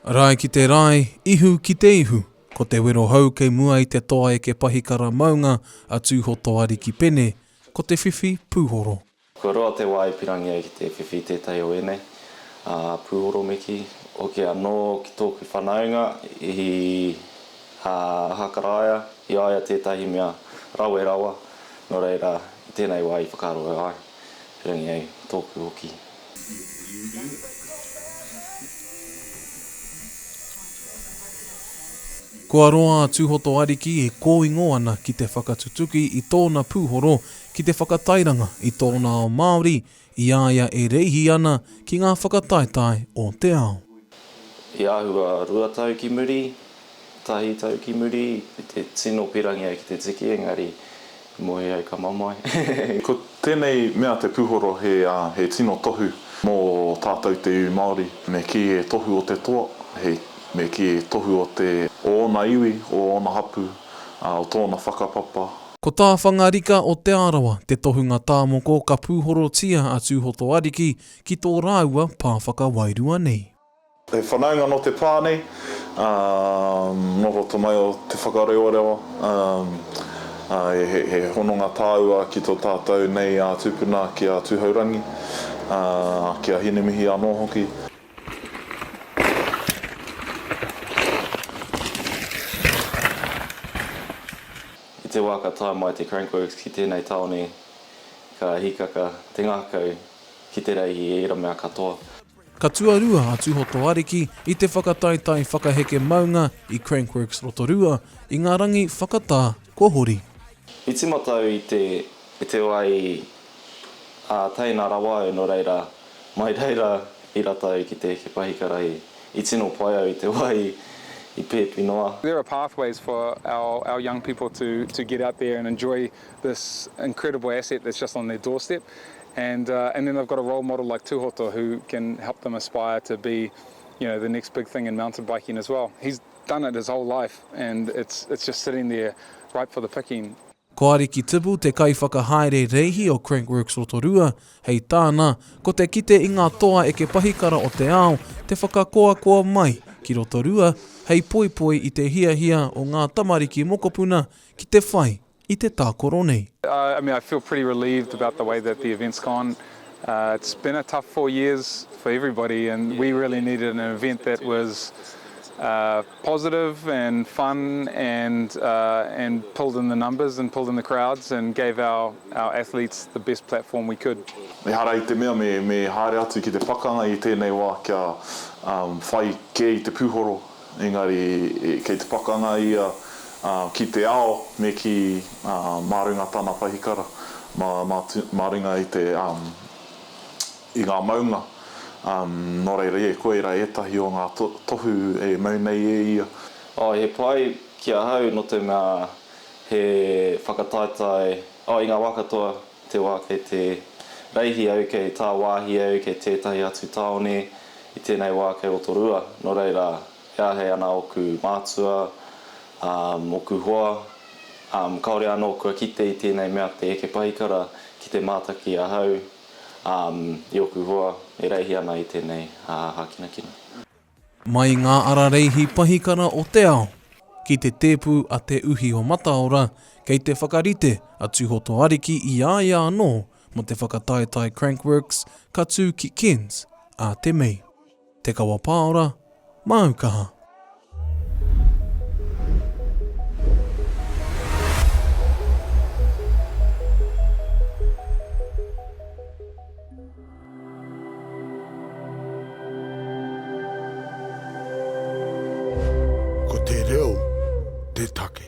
Rae ki te rae, ihu ki te ihu, ko te wero hou kei mua i te toa eke pahikara maunga a Tūhotoariki Pene, ko te whiwhi pūhoro. Kua roa te wā e pirangi ai ki te whiwhi tētahi o ēnei, ā, pūhoro me kī. Hoki anō ki tōku whanaunga i Ahakaraia, i a ia tētahi mea rawe rawa, nō reira, i tēnei wā i whakaroa ai. Rangi ai tōku hoki. Kua roa a Tūhoto Ariki e kōingo ana ki te whakatutuki i tōna pūhoro ki te whakatairanga i tōna ao Māori i a ia e reihi ana ki ngā whakataetae o te ao. He āhua rua tau ki muri, Tahi tau ki muri i te tino pirangi ai ki te tiki engari i moe ai ka mamae. Ko tenei mea te puhoro he he tino tohu mo tatou te iwi Maori me ki e tohu o te toa he me ki e tohu o te o ona iwi o ona hapu a o tona whakapapa. Ko tā Whangarika o Te Arawa te tohunga tāmoko ka pūhorotia a Tūhoto Ariki ki tō rāua pā whakawairua nei. He whanaunga nō te pā nei, noho tamaio te whakarewarewa, he hononga tāua ki tō tātou nei ā tūpuna ki a Tūhourangi, ki a Hinemihi anō hoki. I te wā ka tae mai te Crankworks ki tēnei tāone ka hikaka te ngākau ki te reihi i ērā mea katoa. Ka tuarua a Tūhoto Ariki i te whakataetae whakaheke maunga i Crankworks Rotorua i ngā rangi whakatā kua hori. I tīmata au i te i te wai, ā, teina rawa au, nō reira, mai reira i rata au ki te heke pahikarahi. I tino pai au i te wai i pēpi noa. There are pathways for our our young people to to get out there and enjoy this incredible asset that's just on their doorstep And and then they've got a role model like Tuhoto who can help them aspire to be you know the next big thing in mountain biking as well. He's done it his whole life and it's it's just sitting there ripe for the picking. Ko Ariki Tibu te kaiwhakahaere reihi o Crankworx Rotorua, hei tāna, ko te kite i ngā toa eke pahikara o te ao te whakakoakoa mai ki Rotorua hei poipoi i te hiahia o ngā tamariki mokopuna ki te whai i te tākoro nei. I mean I feel pretty relieved about the way that the event's gone, it's been a tough four years for everybody and we really needed an event that was positive and fun and and pulled in the numbers and pulled in the crowds and gave our our athletes the best platform we could. Ehara i te mea me haere atu ki te pakanga i tēnei wā kia whai kē i te pūhoro Engari kei te pakanga ia ki te ao me kī, mā runga tana pahikara, mā runga i te, i ngā maunga, nō reira e, koira ētahi o ngā tohu e mau nei e ia. Oh, he pai ki ahau nō te mea he whakataetae, oh, i ngā wā katoa. te wā kei te reihi au, kei tāwāhi au, kei tētahi atu tāone, i tēnei wā kei Rotorua, nō reira, he āhei ana ōku mātua, ōku hoa, kāore anō kua kite i tēnei mea te eke pahikara ki te mātaki ahau i ōku hoa e reihi ana i tēnei hākinakina. Mai ngā ara reihi pahikara o te ao ki te tēpu a Te Uhi o Mataora kei te whakarite a Tūhotoariki i a ia anō mō te whakataetae Crank Works ka tū ki Cairns ā te Mei. Te Kawa Pāora, māu kaha. Ko te reo te take.